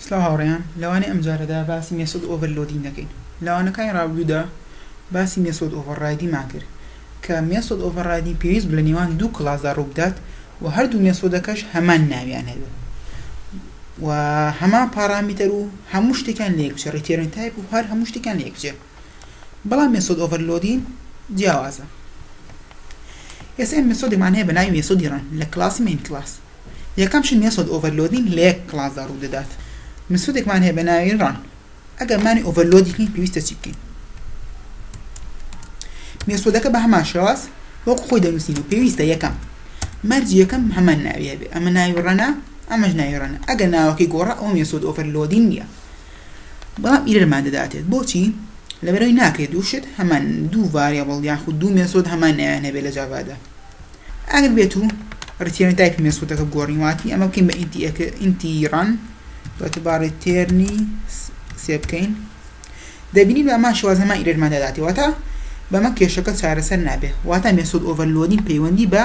سلاو هاوڕێیان لەوانەی ئەم جارەدا باسی مێسۆد ئۆڤەر لۆدین دەکەین لەوانەکانی ڕابدوودا باسی مێسۆد ئۆڤەر ڕایدی مان کرد کە مێسۆد ئۆڤەر ڕایدی پێویست بوو لە نێوان دوو کڵاسدا ڕووبدات و هەردوو مێسۆدەکەش هەمان ناویان هەبێت و هەمان پارامیتەر و هەموو شتێکان لە یەک بچێ ڕیتێرن تایپ و هەر هەموو شتێکان لە یەک بچێ بەڵام مێسۆد ئۆڤەرلۆدین جیاوازە ئێستا ئێمە مێسۆدێکمان هەیە بە ناوی مێسۆدی ڕەن لە کلاسی مین کلاس یەکەم شت مێسۆد ئۆڤەرلۆدین لە یەک کلاسدا ڕوو دەدات مێسۆدێکمان هەیە بە ناوی ڕەن ئەگەر مانی ئۆڤەرلۆدی بکەین پێویستە چی بکەین مێسۆدەکە بە هەمان شێواز وەک خۆی دەنووسین و پێویستە یەکەم مەرج یەکەم هەمان ناویە بێ ئەمە ناوی ڕەنە ئەمەش ناوی ڕەنە ئەگەر ناوەکەی گۆڕە ئەو مێسۆد ئۆڤەرلۆدین نییە بەڵام ئیرەرمان دەداتێت بۆچی لەبەرەوەی ناکرێت دوو شت هەمان دوو ڤاریابڵ یاخود دوو مێسۆد هەمان ناویان هەبێت لە جاڤادا ئەگەر بێت و ڕتێرن تایپی مێسۆدەکە بگۆڕین واتی ئەمە بکەین بە ئینتی ئەک ئینتی ڕان دواتە با ڕتێرنی سێ بکەین دەبینین بە ئەمان شێواز هەمان ئیرەرمان دەداتێت واتە بەمە کێشەکە چارەسەر نابێت واتە مێسۆد ئۆڤەرلۆدین پەیوەندی بە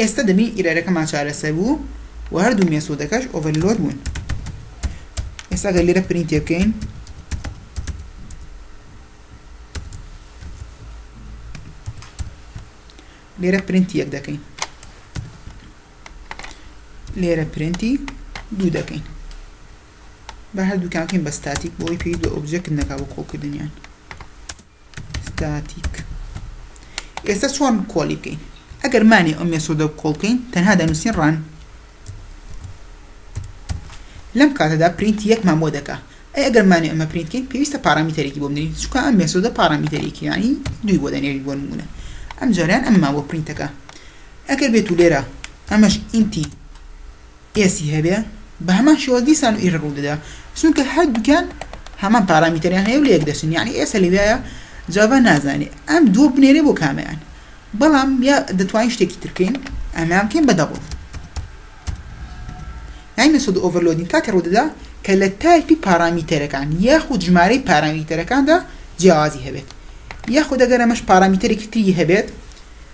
ئێستا دەبین ئیرەرەکەمان چارەسەر بوو و هەردوو مێسۆدەکەش ئۆڤەرلۆد بوون ئێستا گەر لێرە پرینت بکەین لێرە پرینت یەک دەکەین لێرە پرینتی دوو دەکەین بە هەردووکانکەین بە ستاتیک بۆی پێویست بە ئۆبجێکت نەکا بۆ کۆکردنیان ستاتیک ئێستا چۆن کۆلی بکەین ئەگەر مانی ئەو مێسۆدە کۆڵ بکەین تەنها دەنووسین ڕان لەم کاتەدا پرینت یەکمان بۆ دەکا ئەی ئەگەر مانی ئەمە پرینت کەین پێویستە پارامیتەرێکی بۆ بنێین چونکە ئەم مێسۆدە پارامیتەرێکی یانی دووی بۆ دەنێری بۆ نمونە ئەم جاریان ئەمما بۆ پرینتەکە ئەگەر بێت و لێرە ئەمەش ئینتی ئێسی هەبێ بە هەمان شێوە دیسان و ئیرە ڕوودەدا چونکە هەردووکیان هەمان پارامیتەریان هەیە و لەیەک دەچن یانی ئێسە لەویایە جاڤا نازانێ ئەم دووە بنێرێ بۆ کامەیان بەڵام یا دەتوانین شتێکی تر بکەین ئەمەیان بکەین بە دەبڵ یانی مێسۆد ئۆڤەرلۆدین کاتێ ڕوودەدا کە لە تایپی پارامیتەرەکان یاخود ژمارەی پارامیتەرەکاندا جیاوازی هەبێت یاخود ئەگەر ئەمەش پارامیتەرێکی تری هەبێت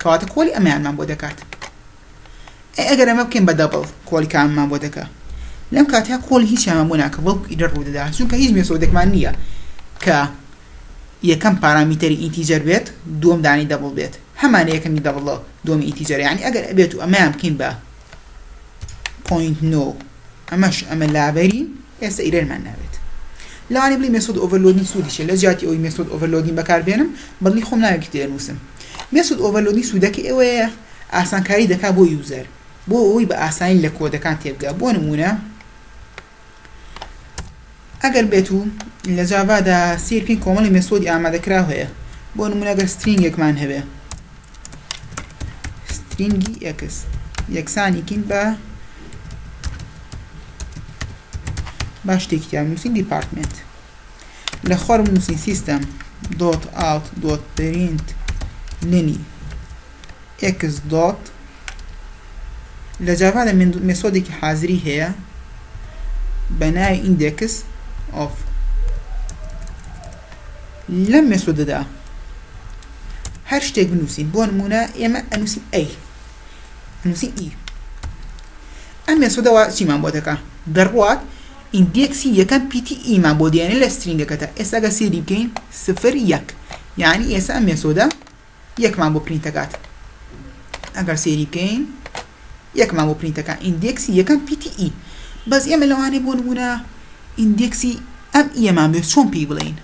کەواتە کۆلی ئەمەیانمان بۆ دەکات ئەی ئەگەر ئەمە بکەین بە دەبڵ کۆلی کاممان بۆ دەکە لەم کاتە کۆلی هیچیانمان بۆ ناکە بەڵکو ئیرە ڕوودەدا چونکە هیچ مێسۆدێکمان نییە کە یەکەم پارامتری ئینتیجەر بێت دووەم دانی دەبڵ بێت هەمان یەکەمی دەبڵە دووەمی ئینتیجەر یعنی ئەگەر ئەبێت و ئەمەیان بکەین بە پوینت نۆ ئەمەش ئەمە لابەری ئێستا ئیرەنمان ناوێت. لەوانەیە بڵێی مێسۆد ئۆڤەرلۆدین سوودی چیە؟ لە جیاتی ئەوەی مێسۆد ئۆڤەرلۆدین بەکار بێنم، بە دڵی خۆم ناوێکی تێ ئەنووسم. مێسۆد ئۆڤەرلۆدین سوودەکەی ئەوەیە ئاسانکاری دەکات بۆ یوزەر بۆ ئەوەی بە ئاسانی لە کۆدەکان تێ بگات. بۆ نموونە ئەگەر بێت و لە جاڤادا سەیر بکەین کۆمەڵی مێسۆدی ئامادەکراو هەیە. بۆ نموونە گەر سترینگێکمان هەبێ. سترینگی ئێکس یەکسانی کین بە با شتێکی تیا نووسین دیپارتمنت لە خۆر نووسین سیستەم دۆت ئاوت دۆت پرینت لنی ئێکس دۆت لە جاڤا لە مێسۆدێکی حازری هەیە بە ناوی ئیندێکس ئۆف لەم مێسۆدەدا هەر شتێک بنووسین بۆ نمونە ئێمە ئەنووسین ئەی ئەنووسین ئی ئەم مێسۆدەوە چیمان بۆ دەکا دەڕوات ئیندێکسی یەکەم پیتی ئیمان بۆ دێنێ لە سترینگەکەتە ئێستاگە سێری بکەین سفر یەک یعنی ئێستا ئەم مێسۆدە یەکمان بۆ پرینتەکات ئەگەر سێری بکەین یەکەمان بۆ پرینتەکان ئیندێکسی یەکەم PTE بەس ئێمە لەوانەیە بۆ نمونە ئیندێکسی ئەم ئیەمان بێت چۆن پێی بڵێین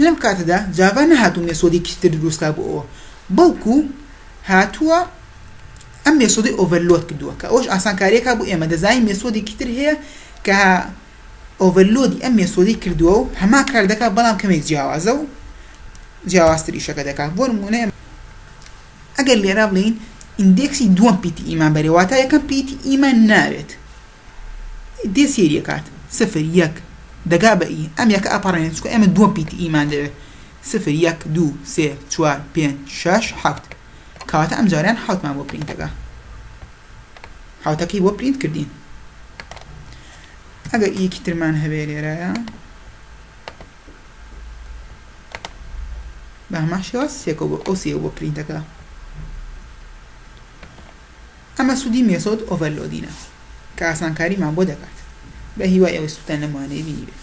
لەم کاتەدا جاڤا نەهاتوو مێسۆدی کچتر دروستکا بۆ ئەوە بەڵکو هاتووە ئەم مێسۆدی ئۆڤەرلۆد کردووە کە ئەوش ئاسانکاریەکە بۆ ئێمە دەزانین مێسۆدی کچتر هەیە کە ئۆڤەرلۆدی ئەم مێسۆدی کردووە و هەمان کار دەکات بەڵام کەمێک جیاوازە و جیاوازتر ئیشەکە دەکات بۆ نمونە ئەگەر لێرا بڵێین ئیندێکسی دووەم پیتی ئیمان بەرێ واتا یەکەم پیتی ئیمان ناوێت دێ سێری ئەکات سفر یەک دەگا بە ئی ئەم یەکە ئەپەڕێنێت چونکە ئێمە دووەم پیتی ئیمان دەوێت سفر یەک دوو سێ چوار پێنج شەش حەوت کەواتە ئەمجارەیان حەوتمان بۆ پرینت دەکا حەوتەکەی بۆ پرینت کردین ئەگەر ئی یەکی ترمان هەبێ لێرایە بە هەمان شێواز سێکۆ بۆ ئەو سێیە بۆ پرینتەکە ئەمە سودی مێسۆد ئۆڤەرلۆدینە کە ئاسانکاریمان بۆ دەکات بە هیوای ئەوەی سودتان لەم وانەیە بینیبێت.